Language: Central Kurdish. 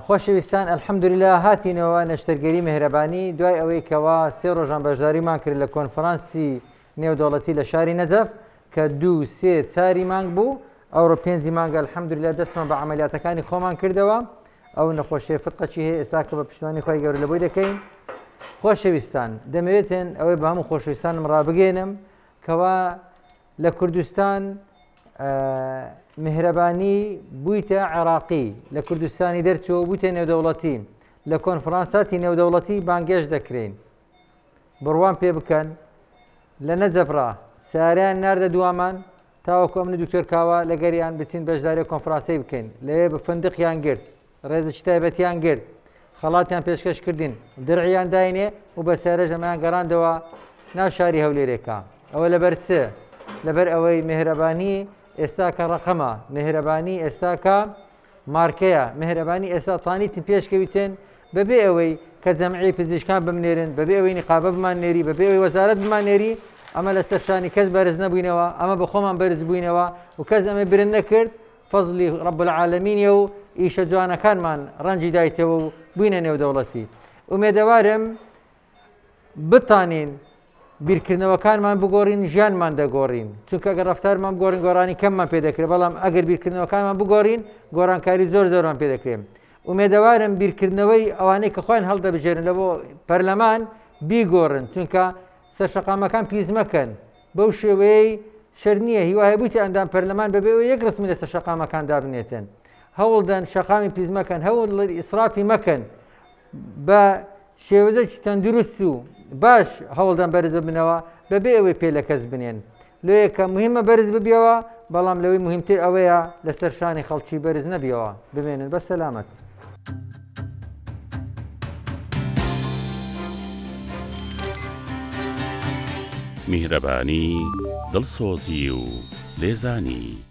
خۆشەویستان ئەلحەمدوللا هاتینەوە نەشتەرگەری مهرەبانی دوای ئەوەی کەوا سێ ڕۆژان بەشداریمان کرد لە کۆنفرانسی نێودەوڵەتی لە شاری نەجەف کە دوو سێ چاری مانگ بوو ئەوڕۆ پێنجی مانگە الحەمدللا دەستمان بە عملیاتەکانی خۆمان کردەوە ئەو نەخۆشیە فتقەچی هەیە ئێستا کە بە پشتوانی خۆی گەور لە بۆی دەکەین خۆشەویستان دەمەوێتێن ئەوەی بە هەموو خۆشویستانم ڕابگەێنم کەوا لە کوردستان میهرەبانی بوویتە عێراقی، لە کوردستانی دەرچووە و بوویتە نێودەوڵەتی، لە کۆنفرانساتی نێودەوڵەتی بانگێشت دەکرێین. بڕوام پێ بکەن، لە نەجەفڕا سەیارەیان ناردە دوامان تاوەکو ئەمن و دکتۆر کاوە لەگەریان بچین بەشداری کۆنفرانسەی بکەین، لەوێ فندقیان گرت، ڕێزی چ تایبەتیان گرت، خەڵاتیان پێشکەش کردین، درعیان داینێ و بە سیارەش ئەمەیان گەڕاندەوە ناو شاری هەولێرێکا. ئەوە لەبەر چ؟ لەبەر ئەوەی مێهرەبانی ئێستا کە ڕەقەمە، مێهرەبانی ئێستا کە مارکەیە، مێهرەبانی ئێستا توانیتن پێشکەویتن بەبێ ئەوەی کە جەمعیەی پزیشکان بمنێرن، بەبێ ئەوەی نیقابە بماننێری، بەبێ ئەوەی وەزارەت بماننێری، ئەمە لەسەر شانی کەس بەرز نەبووینەوە، ئەمە بە خۆمان بەرز بووینەوە و کەس ئەمەی برن نەکرد، فەزلی رب العالمینە و ئیشە جوانەکانمان رەنجی دایتەوە و بوینە نێودەوڵەتی. ئومێدەوارم بتانین بیرکردنەوەکانمان بگۆرین ژیانمان دەگۆرین چونکە گەر رەفتارمان بگۆرین گۆرانی کەممان پێدەکرێ بەڵام ئەگەر بیرکردنەوەکانمان بگۆرین گۆرانکاری زۆر زۆرمان پێدەکرێن ئومێدەوارم بیرکردنەوەی ئەوانەی کە خۆیان هەڵدەبژێرن لە بۆ پەرلەمان بیگۆڕن چونکە سەرشەقامەکان پیس مەکەن بەو شێوەیەی شەر نییە، هیوا هەیە بوویتە ئەندام پەرلەمان بەبێ ئەوەی یەک ڕەسمی لەسەر شەقامەکان دابنێتن. هەوڵدەن شەقامی پیس مەکەن، هەوڵدڵن ئیسرافی مەکەن. بە شێوەزەکی تەندروست و باش هەوڵدەن بەرز ببنەوە بەبێ ئەوەی پێ لە کەس بنێن. لۆیە کە موهیمە بەرز ببیەوە، بەڵام لەوەی موهیمتر ئەوەیە لەسەر شانی خەڵکی بەرز نەبیەوە. بمێنن بە سەلامەت. میهرەبانی، دڵسۆزی و لێزانی.